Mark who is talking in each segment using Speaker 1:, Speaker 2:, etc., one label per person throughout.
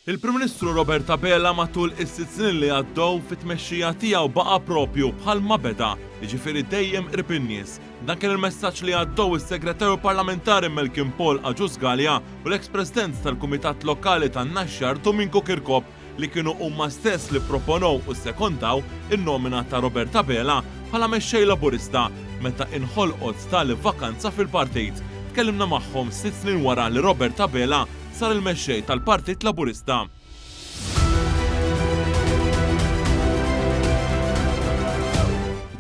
Speaker 1: Il-Prim Ministru Robert Abela matul is-sitt snin li għaddew fit-tmexxija tiegħu baqa' proprju bħal ma beda, jiġifieri dejjem qrib in-nies. Dan kien il-messaġġ li għaddew is-Segretarju Parlamentari Malcolm Paul Agius Galea u l-eks President tal-Kumitat Lokali tan-Naxxar Dominku Kirkop li kienu huma stess li pproponew u ssekondaw in-nomina ta' Robert Abela bħala Mexxej Laburista meta inħolqot tali vakanza fil-Partit. Tkellimna magħhom sitt snin wara li Robert Abela sar il-Mexxej tal-Partit Laburista.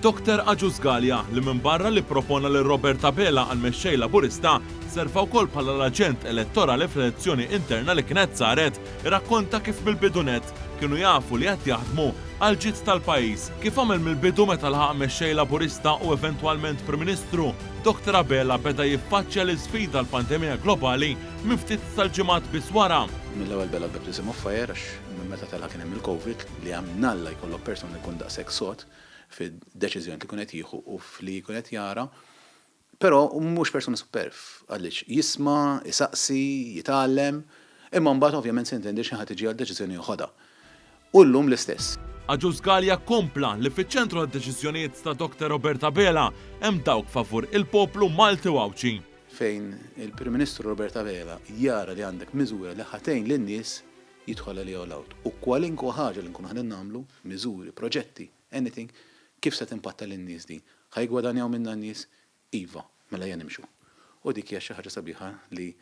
Speaker 1: Doktor Agius Galea, li minbarra li ppropona lil Robert Abela għall-Mexxej Laburista, serva wkoll bħala l-aġent elettorali fl-elezzjoni interna li kienet saret, irrakkonta kif mill-bidu nett kienu jafu li qed jaħdmu għall-ġid tal-pajjiż. Kif għamel mill-bidu meta lħaq Mexxej Laburista u eventwalment Prim Ministru, Doktor Abela beda jiffaċċja l-isfida l-pandemija globali minn ftit tal-ġimgħat biss wara. Mill-ewwel bela l-baptism
Speaker 2: of fire għax minn meta tela' kien hemm il-Covid li għamnalla jkollok persuna li jkun daqshekk sod fid-deċiżjonijiet li jkun qed jieħu u f'li jkun qed jara. Però hu mhux persuna superf għaliex jisma', isaqsi, jitgħallem, imma mbagħad ovvjament se jintendi xi ħadd iġi għal deċiżjoni joħodha. u llum l-istess. Agius Galea
Speaker 1: kompla li fiċ-ċentru tad-deċiżjonijiet ta' Dr Robert Abela hemm dawk favur il-poplu Malti u Għawdxi. Fejn
Speaker 2: il-Prim Ministru Robert Abela jara li għandek miżura li ħa tgħin lin-nies, jidħol għaliha all out. U kwalinkwa ħaġa li nkunu qegħdin nagħmlu, miżuri, proġetti, anything, kif se timpatta lin-nies din? Ħa jiggwadanjaw minnha n-nies? Iva, mela ejja nimxu. U dik hija xi ħaġa sabiħa li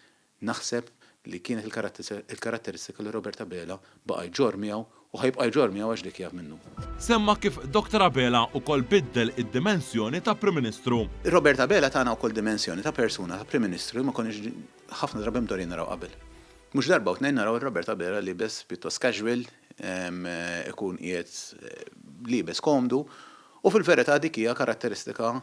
Speaker 2: naħseb li kienet il-karatteristika li Robert Abela baqa' jġorr miegħu u ħa jibqa' jġorr miegħu għax dik hija minnu. Semma kif
Speaker 1: Dr. Abela wkoll biddel id-dimensjoni ta' Prim Ministru. Robert Abela tana
Speaker 2: wkoll dimensjoni ta' persuna, ta' Prim Ministru li ma konniex ħafna drabi mdorrijin naraw qabel. Mhux darba u tnejn naraw lil Robert Abela liebes pjuttost casual, ikun qiegħed liebes komdu u fil-verità dik hija karatteristika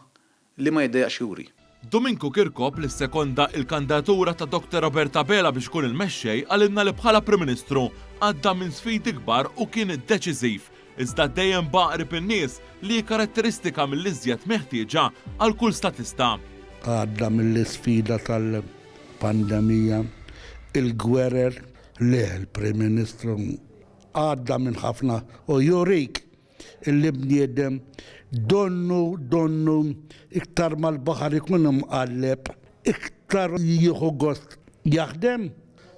Speaker 2: li ma jiddejjaqx juri. Duminku Kirkop
Speaker 1: li ssekonda l-kandatura ta' Dr Robert Abela biex ikun il-mexxej qalilna li bħala Prim Ministru għadda minn sfidi kbar u kien deċiżiv iżda dejjem baqa' qrib in-nies li hi karatteristika mill-iżjed meħtieġa għal kull statista. Għadda
Speaker 3: mill-isfida tal-pandemija, il-gwerer, le l-Prim Ministru għadda minn ħafna u jurik l-bniedem donnu donnu iktar ma l-baħar ikun imqalleb iktar jieħu gost jaħdem.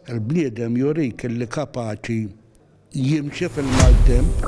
Speaker 3: Il-bniedem jurik li kapaċi jimxi fil-maltemp.